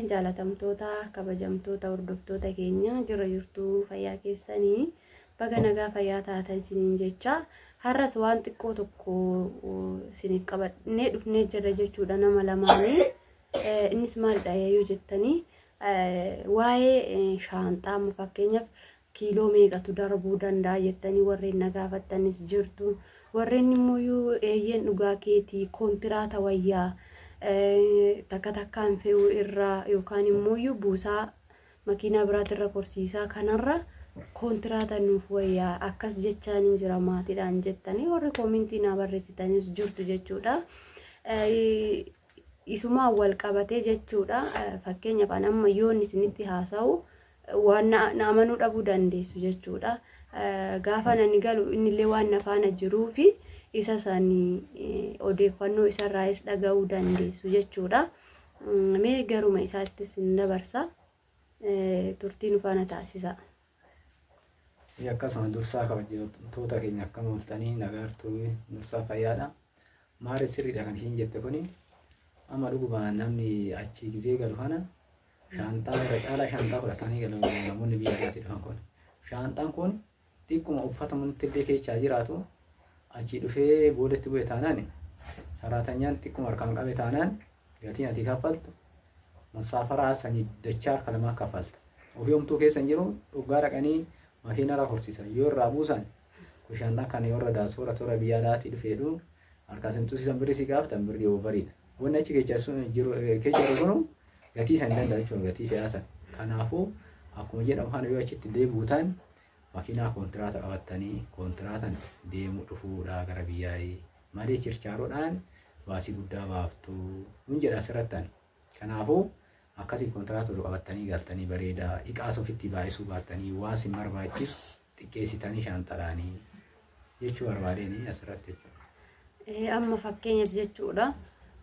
jaalatamtoota kabajamtoota hordoftoota keenya jirra jirtuu fayyaa keessanii baga nagaa fayyaa taatan isiniin jecha har'as waan xiqqoo tokko isiniif qabannee dhufnee jirra jechuudha nama lamaanii innis maalidha yoo jettanii waa'ee shaanxaa amma fakkeenyaaf kiiloo meeqatu darbuu danda'a jettanii warreen na gaafattanis jirtu. Warreen immoo yoo eeyyeen dhugaa keetii koontiraata wayyaa takka takkaan fe'uu irraa yookaan immoo yoo buusaa makiinaa biraatirra korsiisaa kanarra koontiraata nuuf wayyaa akkas jechaan hin jira maatiidhaan jettanii warri koomintii naa barreessitanis jirtu jechuudha. Isumaan wal qabatee jechuudha fakkeenyaaf amma yoon isinitti haasa'u. waan na na amanuu dhabuu dandeessu jechuudha. Eh, Gaafaan ani galu innillee waan na faana jiruu fi isa sani eh, odeeffannoo isarraayis dhaga'uu dandeessu jechuudha. Mm, Mee garuma isaattis hin dabarsa. Eh, Turtii nu faana taasisa. Ee, akkasuma dursaa kabajamtoota keenya akkam ooltanii nagaartuu dursaa fayyaadha. Maari sirriidha kan ishiin jette kuni amma dhuguma namni achii gizee galu kana Shaanxaa irra caalaa shaanxaa fudhatanii galu namoonni biyya alaatti dhufan kun. Shaanxaan kun xiqquma uffata manatti illee keessa jiraatu achii dhufee boodatti bu'e taanaan saraatanyaan xiqquma harkaan qabe taanaan gatiin ati kaffaltu musaafaraa sanii dachaa harka lamaa kaffalta. Ofii homtuu keessa hin jiru dhugaa dhaqanii makiina irraa horsiisan yoo irraa buusan kun shaanxaan kan yoo irra daasuu irra toora biyya alaatti dhufeedhu harkaa simtuu siisan birrii si gaafatan birrii oovariidha. Wanni achi kecha sun jiru kecha jiru sunu gatii san danda'a jechuun gatii fe'aa san. Kanaafuu akkuma jedhamu kana yoo achitti deebi'u ta'an makiinaa koontiraata qabattanii kontiraatan deemu dhufuudha gara biyyaa'ii malee chirchaaroodhaan baasii guddaa baaftu hin jedha asirrattan. Kanaafuu Akkasii kontiraata ol qabattanii galtanii bareeda. Iqaas ofittii baay'isuu baattanii waa sin barbaachisu xiqqeessitanii shaanxaraanii jechuu barbaadeenii asirratti jechuudha. Eh, Amma fakkeenyaaf jechuudha.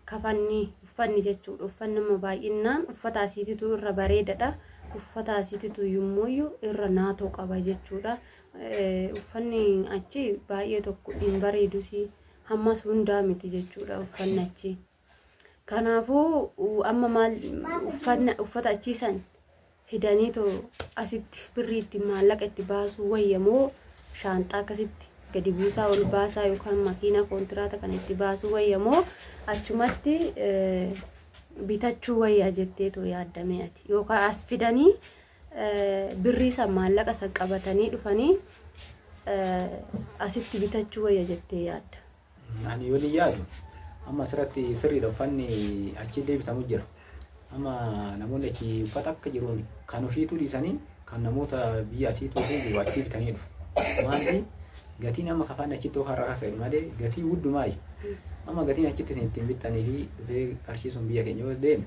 Kafanni uffanni jechuudha. Uffanni amma baay'inaan uffata asiititu irra bareedadha. Uffata asiititu immoo irra naatoo qaba jechuudha. Eh, Uffanni achi baay'ee tokko hin bareedus hammas hundaa miti jechuudha uffanni achi. Kanaafuu amma maal uffata achiisan fidanii too asitti birrii itti maallaqa itti baasuu wayya moo shaanxaa akkasitti gadi buusaa ol baasaa yookaan makiinaa koontiraata kana itti baasuu wayya moo achumatti bitachuu wayya jettee too yaaddamee ati yookaan as fidanii birrii san maallaqa san qabatanii dhufanii asitti bitachuu wayya jettee yaadda. Ani yoon yaadu amma asirratti sirriidha uffanni achi deebitamu jira. Amma namoonni achi uffata akka jiruun kan ofiituu dhiisanii kan namoota biyya asiituu fi jiru achi bitanii dhufu. Maanti gatiin amma kafaan achitti okaa irraa kaasa'e malee gatii hundumaa amma gatiin achitti isin ittiin bittanii fi dhufee qarshii sun biyya keenya yoo deeme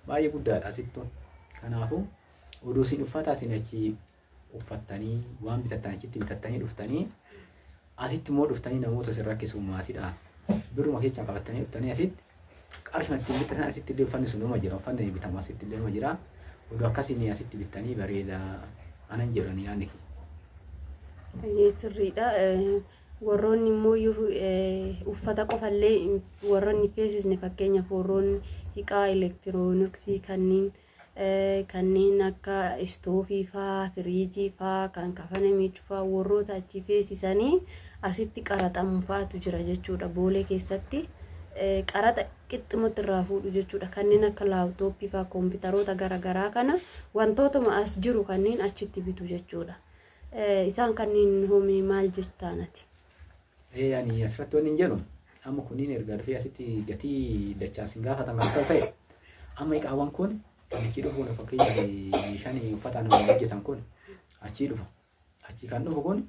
baay'ee guddaadha asittu. Kanaafuu oduu isin uffataa isin achi uffattanii waan bitattan achitti bitattanii dhuftanii asitti immoo dhuftanii namoota isin rakkisu maatiidhaaf birruma keessan qabattanii dhuftanii asitti qarshuma ittiin bittatan asitti illee uffanni sun nama jira uffanni bitamu asitti illee nama jira oduu akkasiin asitti bittanii bareeda anan jedhan yaadni kee. Baay'ee sirriidha. Eh, Warroonni immoo yoo, eh, uffata qofallee warroonni hin feesisne fakkeenyaaf warroonni hiqaa elektirooniksii kanneen kanneen akka istoofii faa, firiijii faa, kan kafana miicuu faa warroota achi feesisanii asitti qaraxamu faatu jira jechuudha. Boolee keessatti qaraxa qixxumatti irraa fuudhu jechuudha. Kanneen akka laaptooppii faa, koompitaroota garaagaraa kana wantootuma as jiru kanneen achitti bitu jechuudha. Isaan kanneen hoomii maal jettaan ati? Ee ani asirratti wanni hin jedhu amma kunniin erga dhufee asitti gatii dachaa isin gaafatan kan ta'u ta'e amma iqaawwan kun achii dhufu kun fakkeenyaaf meeshaan uffataan hojjetan kun achii dhufa. Achii kan dhufu kun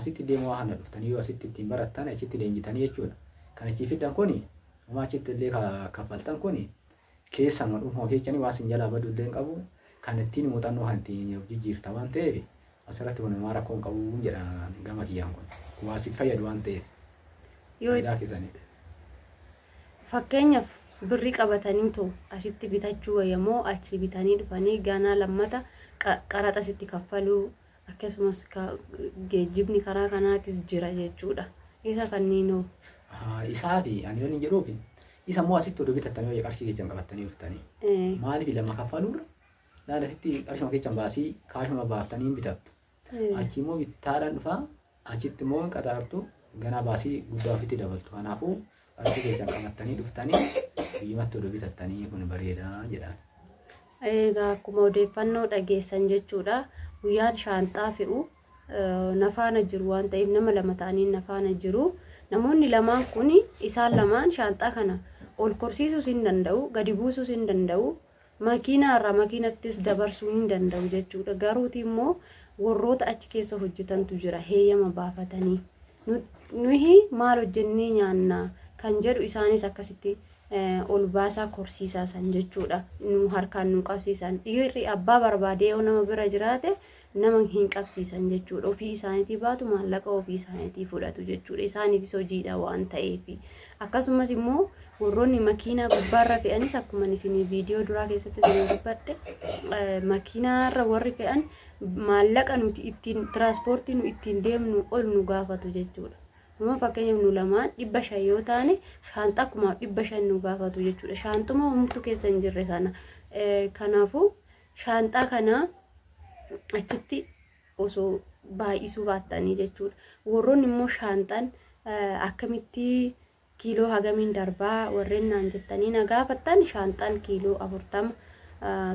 asitti deemuu waan kana dhuftanii yoo asitti ittiin barattan achitti leenjitanii jechuudha. Kan achii fiddan kun homaa achitti illee ka- kaffaltan kun Keessama dhuunfaa ofii jechanii waan sin jalaa badu illee hin qabu. Kan ittiin muuxannoo kan ittiin of jijjiirta waan ta'eef asirratti kun homaa rakkoo hin qabu jedha gama kiyyaan kun. Waa siif fayyadu waan ta'eef. Yoo Faayidaa keessanii. fakkeenyaaf birri qabatanii too asitti bitachuu wayyamoo achii bitanii dhufanii ganaa lammata qa- qaraxa sitti kaffaluu akkasumas geejjibni karaa kanaatis jira jechuudha. Isa kanniinoo. Isaa fi ani yoon hin jedhuufi isa immoo asitti oduu bitattanii hojii qarshii keessan qabattanii dhuftanii. Maaliif lama kaffaluurra naan asitti qarshuma keessan baasii kaashuma baaftanii hin bitattu. Achi immoo bittaadhaan dhufaa Achitti immoo hin qaxaartu ganaa baasii guddaa ofitti dabaltu. Kanaafuu qarshii keessan qabattanii dhuftanii biyyumatti oduu bitattanii kun bareeda jedhaan. Egaa akkuma odeeffannoo dhageessan jechuudha. Guyyaan shaanxaa fe'u eh, na faana jiru waan ta'eef nama lama ta'anii na faana jiru. Namoonni lamaan kun isaan lamaan shaanxaa kana ol korsiisuus hin danda'u, gadi buusuus hin danda'u, Makiinaa irraa makiinattis dabarsuu hin danda'u jechuudha. Garuuti immoo warroota achi keessa hojjetantu jira heeyyama baafatanii. Nuyi maal hojjennee nyaanna kan jedhu isaanis akkasitti ol baasaa korsiisaa san jechuudha. Nu harkaan nu qabsiisan. Dhiirri abbaa barbaadee yoo nama bira jiraate nama hin qabsiisan jechuudha. Ofii isaaniitii baatu maallaqa ofii isaaniitii fudhatu jechuudha. Isaaniifis hojiidha waan ta'eef. Akkasumas immoo warroonni makiinaa gubbaarra fe'anis akkuma isin viidiyoo duraa keessatti isin dubbadhe makiinaarra warri fe'an maallaqa nuti ittiin tiraanspoortii nu ittiin deemnu ol nu gaafatu jechuudha. Nama fakkeenyaaf nu lamaan dhibba shan yoo taane shaanxa akkumaaf dhibba shan nu gaafatu jechuudha. Shaanxuma humtu keessa hin jirre kana. Kanaafuu shaanxaa kana achitti osoo baay'isuu baattanii jechuudha. Warroonni immoo shaanxaan akkamitti kiiloo hagamiin darbaa warreen naan jettanii na gaafattan shaanxaan kiiloo afurtama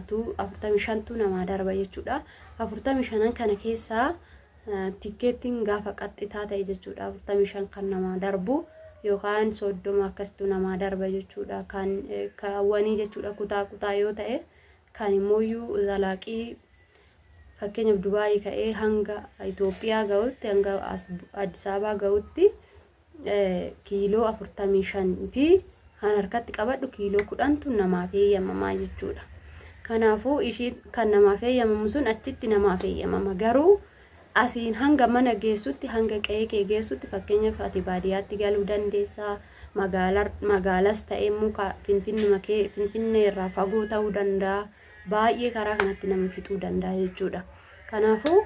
tu afurtamii shantu namaa darba jechuudha. Afurtamii shanan kana keessaa tikkeettiin gaafa qaxxitaa ta'e jechuudha. Afurtamii shan kan namaa darbu yookaan soddoma akkasitu namaa darba jechuudha. Kan kaawwanii jechuudha kutaa kutaa yoo ta'e. Kaan immooyyuu zalaaqii fakkeenyaaf Dubaayii ka'ee hanga Itoophiyaa ga'utti hanga Addis Ababaa ga'utti kiiloo afurtamii shan fi kan harkatti qabadhu kiiloo kudhantu namaaf eeyyamamaa jechuudha. Kanaafuu ishii kan namaaf eeyyamamu sun achitti namaaf eeyyamama garuu Asiin hanga mana geessutti, hanga qe'ee kee geessutti fakkeenyaaf ati baadiyyaatti galuu dandeessa, magaala, magaalas ta'e muka finfinnuma kee, finfinnee irraa fagoo ta'uu danda'a. Baay'ee karaa kanatti nama fixuu danda'a jechuudha. Kanaafuu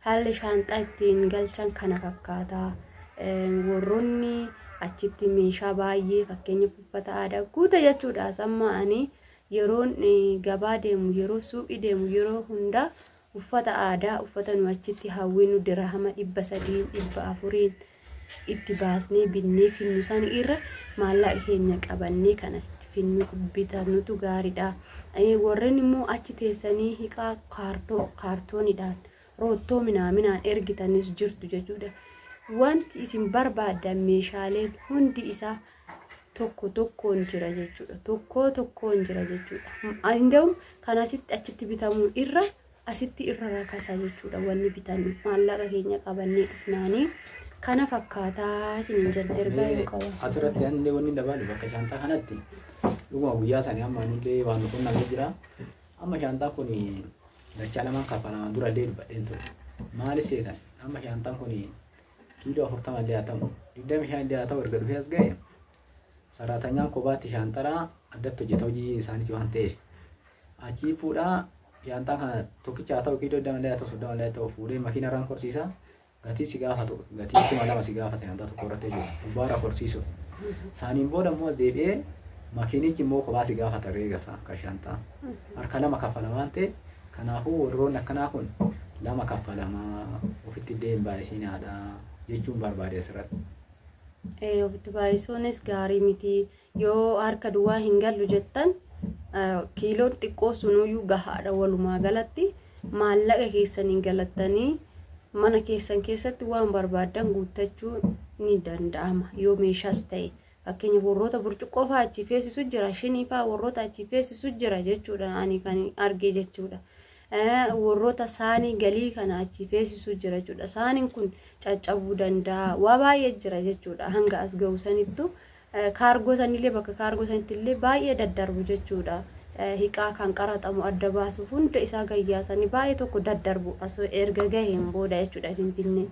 haalli shaanxaa ittiin galchan kana fakkaata. Eh, Warroonni achitti meeshaa baay'ee fakkeenyaaf uffata aadaa guuta jechuudha. Samma ani yeroon eh, gabaa deemu, yeroo suuqii deemu, yeroo hundaa Uffata aadaa uffata nu achitti hawwinu dirahama dhibba sadiin dhibba afuriin itti baasnee binnee finnu san irra maallaqa keenya qabannee kan asitti finnu bitanutu gaariidha. Eh, Warreen immoo achi teessanii hiqaa kaartoo kaartoonidhaan roottoo minaaminaan ergitanis jirtu jechuudha. Wanti isin barbaaddan meeshaaleen hundi isaa tokko tokkoon jira jechuudha. Tokkoo tokkoon jira jechuudha. Inda'uun kan asitti achitti bitamuu irra asitti irra rakasa jechuudha wanni bitannu maallaqa keenya qabannee dhufnaanii kana fakkaataa isiniin jedha ergaa yoo qaban. Asirratti haalli wanni dabaalu bakka shaantaa kanatti dhuguma guyyaa isaanii amma anillee waan qunnamee jira. Amma shaantaan kun dachaa lamaan kaffalamaan durallee dubbadheen ture. Maali seetan amma shaantaan kun kiiloo afurtama illee haa ta'u digdami shan illee haa ta'u erga dhufee as ga'e saraatanyaa kophaatti shaanxaraa addatti hojjeta hojii isaaniis waan ta'eef achii fuudhaa shaanxaa kana tokkicha haa ta'u kiiloo digdama illee haa ta'u soddoma illee haa ta'u fuudhee makiina irraan korsiisa gatii si gaafatu gatii kuma lama si gaafata shaanxaa tokko irratti jiru gubbaarra korsiisu isaaniin booda immoo deebi'ee makiinichi immoo kophaa si gaafata reega isaa kan shaanxaa harka lama kaffala waan ta'eef Kanaafuu warroonni akkanaa kun lama kaffalamaa ofitti illee hin baay'isinaadha jechuun barbaade asirratti. Eh, ofitti baay'isuunis gaarii miti yoo harka duwwaa hin gallu jettan eh, kiiloon xiqqoo sunuyyuu gahaadha walumaa galatti maallaqa keessaniin galattanii mana keessan keessatti waan barbaaddan guuttachuu ni danda'ama yoo meeshaas ta'e Fakkeenya warroota burcuqqoo fa'aa achii feesisu jira, shinii fa'aa warroota achii feesisu jira jechuudha ani kan arge jechuudha. Warroota saanii galii kana achii feesisu jira jechuudha. Saaniin kun caccabuu danda'a, waa baay'ee jira jechuudha hanga as ga'u sanittu. Kaargoo sanillee bakka kaargoo sanitti illee baay'ee daddarbu jechuudha. Hiqaa kan qaraxamu adda baasuuf hunda isaa gayyaasanii baay'ee tokko daddarbu erga gaheen booda jechuudha Finfinnee.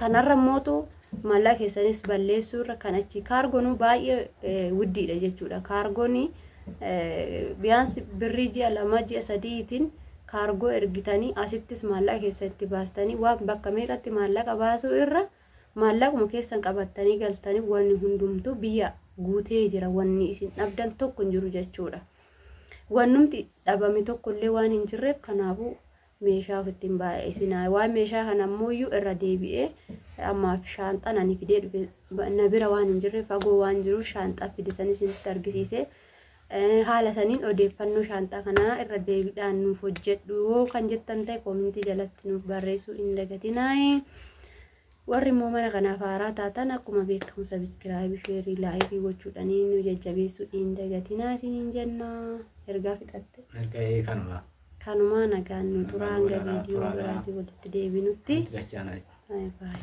Kanarra mootu maallaa keessanis balleessuu irra kan achi kaargonuu baay'ee wuddiidha jechuudha. Kaargoon biyyaans birrii ji'a lama ji'a sadiitiin kaargoo ergitanii asittis maallaa keessa itti baastanii waan bakka meeqatti maallaqa baasuu irra maallaquma keessan qabattanii galtanii wanni hundumtuu biyya guutee jira wanni isin dhabdan tokko hin jiru jechuudha. Wannumti dhabame tokkollee waan hin jirreef kanaafuu meeshaa ofitti hin baay'isinaa waan meeshaa kana ammoo irra deebi'ee ammaaf shaanxaan ani fidee dhufe na bira waan hin jirre fagoo waan jiruuf shaanxaa fide sanis isinitti argisiise haala saniin odeeffannoo shaanxaa kanaa irra deebiidhaan nuuf hojjedhu yoo kan jettan ta'e koomintii jalatti nuuf barreessuu hin dagatinaayi warri immoo mana kanaaf haaraa taatan akkuma beekamu sabiskiraayibii sheerii laayikii gochuudhaan nu jajjabeessuu hin dagatinaa isiniin jenna ergaa fixatte. Erga ee kanuma. Kanumaa nagaan nu turaa hanga viidiyoo biraatii walitti deebinutti. Nuti dachaanaa. Bye bye.